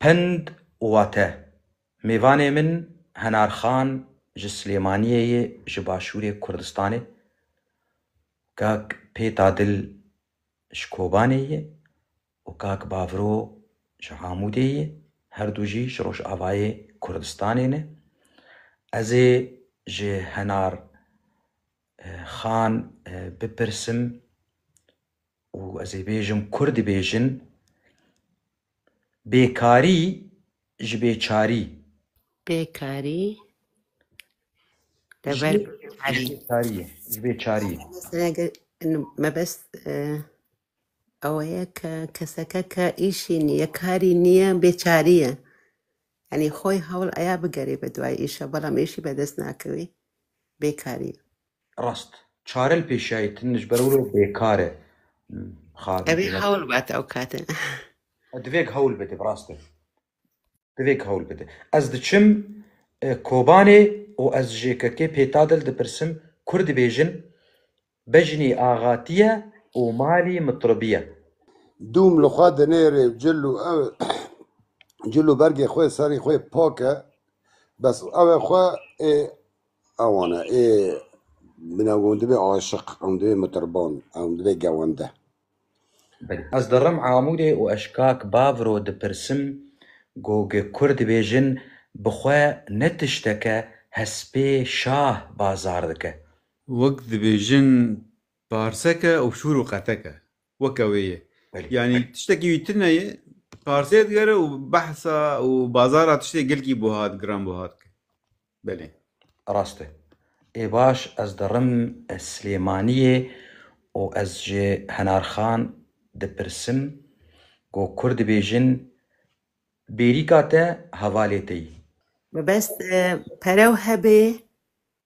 Pend û wate, Mêvanê min Henar Xan ji Silêmaniyê yê ji Başûrê Kurdistanê, kak Pêta Dil ji Kobanê yê û kak Bavro ji Amûdê yê, her du jî ji Rojavayê Kurdistanê ne. Ez ê ji Henar Xan bipirsim û ez ê bêjim kur dibêjin, Bêkarî ji bêçarî. Bêkarî Ji dever bêkarî. bêçarî ye. Ji bêçarî ye. Mesela ge- inu mebest e, ew ye ke keseke ke îşî niye, karî niye, bêçarî ye. Yanî xwe yê hewl aya bigerê be duayê îşa belam êşî be dest nakewê bêkarî ye. Rast. Çare li pêşiya ye tim ji ber wilo bêkar e. Hmm, Xabî Ew ê pêna. hewl bate ew kate. Divêk hewl bide bi rast e. Divêk hewl bide. Ez diçim e, Kobanê û ez ji JKK pêta dil dipirsim kur dibêjin Bejnî axatî ye û malî mitribî ye. Dûm li xwe dinêrê cil û ew cil û bergê xwe serî xwe pak e bes û ew e xwe ê ewan e ê min ew û dibê aşiq ew dibê mitriban ew dibê gewende. Ez dirim Amûdê û ez kak Bavro dipirsim gog Kurd dibêjin bi xwe ne tişteke hespê şah bazar dike. Wek dibêjin parseke û şûr û qeteke. Weke wê ye. Yanî tiştekî wî tune ye, parsê digere û behsa û bazara tiştê gelkî buhat, giran buhat ke. Belê. Rast e. Ê baş ez dirim Silêmaniyê û ez ji Henarxan dipirsim ku kur dibêjin bêrîka te hevalê te yî. Mebest pere hebe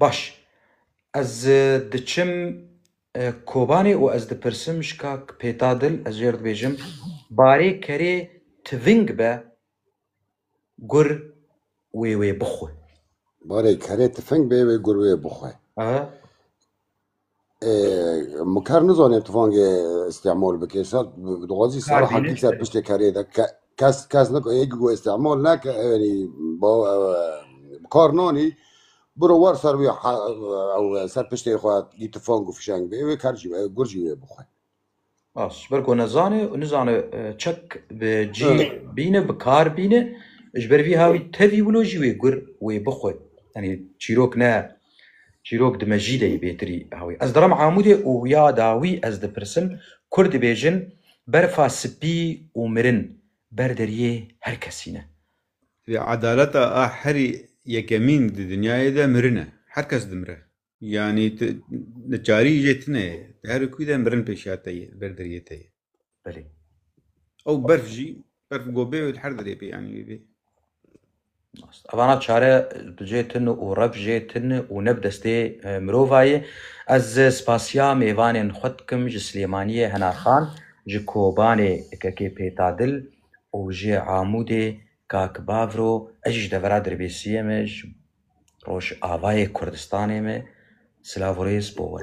Baş, ez diçim Kobanê û ez dipirsim ji kak Pêta Dil, ez jê re dibêjim barê kerê tiving be gur wê wê bixwe. Barê kerê tifing be wê gur wê bixwe. Miker nizanê tifangê îstîmal bike. Îsa dixwazî sala hekî ser piştê kerê de kes kes niko yek ku îstîmal neke ewenî bi kar nanî biro war ser wî ew ser piştê xwe dî tifang û fişeng bê wê ker jî wê gur jî wê bixwe. Bas, ji ber ku nezane û nizane çek bi cî bîne, bi kar bîne, ji ber vî hawî tevî wilo jî wê gur wê bixwe. Yanî çîrok ne, çîrok di mejî de yê bêtirî hawî. Ez dirim Amûdê û ya dawî ez dipirsim, Kurd dibêjin berfa spî û mirin ber deriyê her kesî ne. Divê edaleta a herî yekemîn di dinyayê de mirin e. Her kes dimire. Yanî tu neçarî jê tune ye. Di her kû de mirin pêşiya te ye, ber deriyê te ye. Belê. Ew berf jî, berf gobê û her derê pê yanî wê bê. Evana çare bi jê tun û rev jê tun û ne bi destê e, mirova ye. Ez spasiya mêvanên xwe dikim ji Silêmaniyê Henarxan, ji Kobanê Kekê Pêtadil û ji Amûdê kak Bavro. Ez jî ji devera Dirbêsiyê me ji Rojavayê Kurdistanê me silav û rêz bo we.